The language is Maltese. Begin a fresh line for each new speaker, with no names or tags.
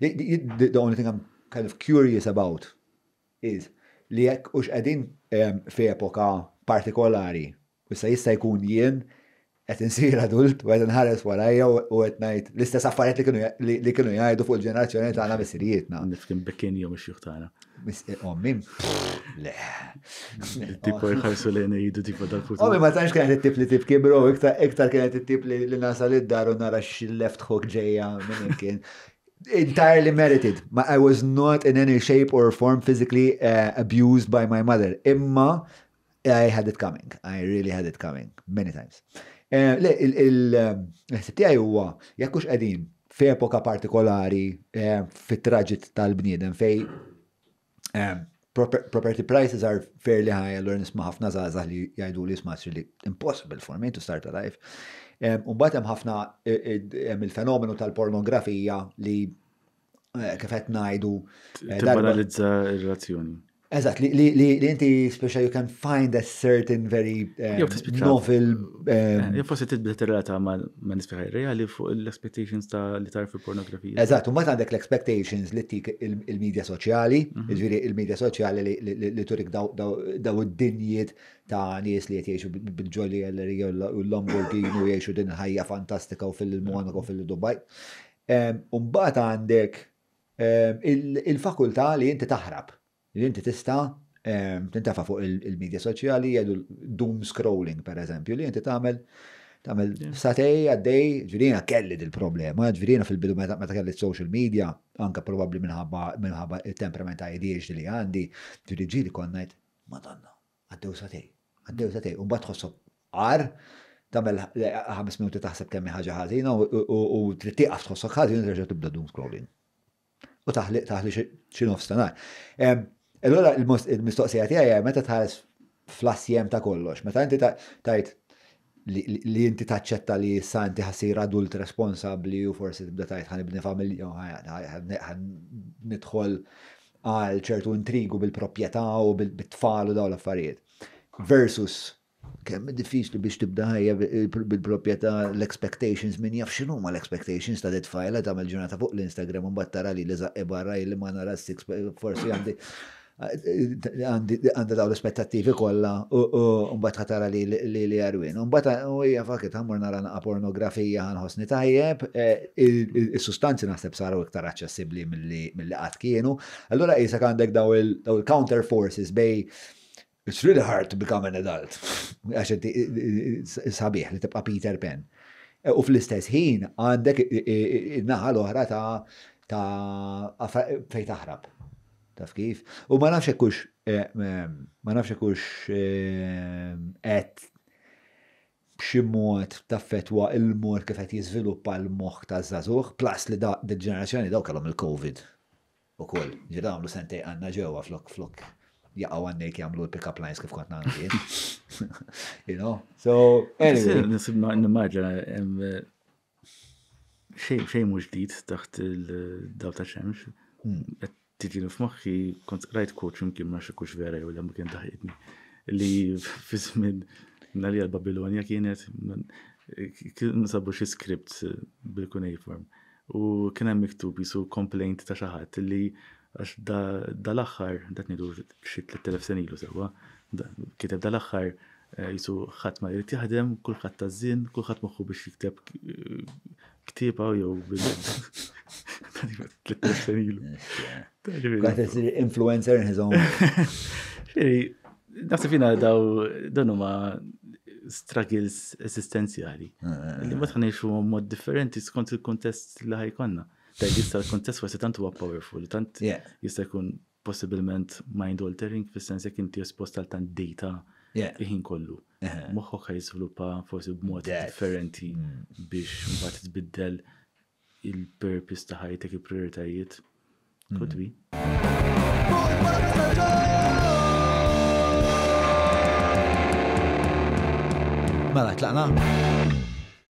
The only thing I'm kind of curious about is li jekk hux qegħdin f'epoka partikolari u issa jista' jkun jien qed insir adult u qed inħares warajja u qed ngħid l-istess affarijiet li kienu jgħidu fuq il-ġenerazzjoni tagħna missirijietna. Nifhem bekkin jew
ix-xjuħ tagħna. Misqi ommi.
Le.
Tipo jħarsu lejn jidu tipo dal-futur. Ommi ma tanx kienet it-tip li
tibki bro, iktar kienet it-tip li nasal id-dar u nara x-left hook ġeja minn kien. Entirely merited. I was not in any shape or form physically uh, abused by my mother. Imma I had it coming, I really had it coming, many times. Eh, le, il-ħsib tiegħi huwa jekk hux qegħdin f'epoka partikolari eh, fit-traġit tal-bniedem fej eh, property prices are fairly high, allora nisma' ħafna żgħażagħ li jgħidu li jisma' li impossible for me to start a life. Umbat hemm ħafna hemm il-fenomenu tal-pornografija li eh, kif qed ngħidu. Eh, Tibbanalizza
r-razzjoni. Eżatt,
li inti speċa you can find a certain very eh, novel. Jew
forsi tibda tirrata ma nispiħaj reali fuq l-expectations ta' li tarf il-pornografija. Eżatt, u ma għandek
l-expectations li tik il-medja soċjali, mhm. ġviri il-medja soċjali li turik daw id-dinjiet ta' nies li qed jgħixu bil-ġolli u l-Lamborghini u jgħixu din ħajja fantastika u fil-Monaco fil-Dubai. U mbagħad għandek il-fakultà li inti taħrab, li inti tista' tintefa' fuq il-midja soċjali jgħidu doom scrolling pereżempju, li inti tagħmel tagħmel satej għaddej, ġvirina kelli dil-problema, ġvirina fil-bidu meta kelli social media, anka probabbli minħabba il-temperament ta' ADHD li għandi, ġviri ġili konnajt, madonna, Għaddew sagħtejn. Għaddew sagħtejn. U mbagħad tħossok agħar, tagħmel ħames minuti taħseb kemm hi ħaġa ħażina u trid tieqaf tħossok ħażin u terġa' tibda doom scrolling. U taħli taħli xi nofs ta' nhar. Allura il-mistoqsija tiegħi meta tħares fl-assjem ta' kollox, meta inti tajt li inti taċċetta li issa inti ħassir adult responsabbli u forsi tibda tajt ħan ibni familja ħan nidħol għal ċertu intrigu bil-proprjetà u bil-tfal u dawn l-affarijiet. Versus kemm diffiċli biex tibda ħajja bil-proprjetà l-expectations minn jaf xinu ma l-expectations ta' detfajla ta' mel ġurnata fuq l-Instagram un battara li li zaqqi barra li ma nara s-six forsi għandi għandha daw l-aspettattivi kollha u mbagħad ħatara li li li jarwin. Mbagħad u hija fakit ħammur nara naqa' pornografija ħanħossni tajjeb, eh, is-sustanzi naħseb saru iktar aċċessibbli mill-li qatt kienu. Allura qisek għandek daw il-counter forces bej It's really hard to become an adult. Għax sabiħ li tibqa' Peter Pan. Eh, u fl-istess ħin għandek naħa l-oħra ta' ta' fej taħrab. Taf kif? U ma nafx hekk hux ma nafx hekk hux qed b'xi mod taffettwa l-mod kif qed jiżviluppa l-moħħ taż-żagħżugħ, plus li dil-ġenerazzjoni dawn kellhom il-Covid ukoll. Ġifieri dawn għamlu sentejn qanna ġewwa flok flok jaqgħu għan-nejt jagħmlu l-pick-up lines kif kont nagħmel jien. You know? So, anyway. Nisib nimmaġina
Xejn mhux ġdid taħt il-daw ta' xemx. Qed tiġini f'moħħi kont rajt quote x'imkien ma xekux vera jew ma kien daħqitni li fi żmien Narija l-Babilonja kienet kien sabu xi script bil-cuneiform u kien hemm miktub jisu complaint ta' xi ħadd li għax dal-aħħar, dak ngħidu xi 3000 sena ilu sewwa, kiteb dal-aħħar Qisu ħadd ma jrid jaħdem, kulħadd taż-żien, kulħadd moħħu biex jikteb ktieba jew bil. Influencer
in his own.
Naħseb jina daw dan huma struggles esistenzjali. Eh, eh, li eh. ma tħanejxu mod differenti skont il-kontest li ħajkonna. Tajt jista l-kontest forse tant huwa powerful, tant jista jkun possibilment mind altering fis-sens jekk inti espost għal tant data il-ħin kollu. Moħħok ħa jiżviluppa forsi b'mod differenti biex mbagħad tbiddel il-purpose ta' ħajtek il-prioritajiet. Could be.
Mela, tlaqna?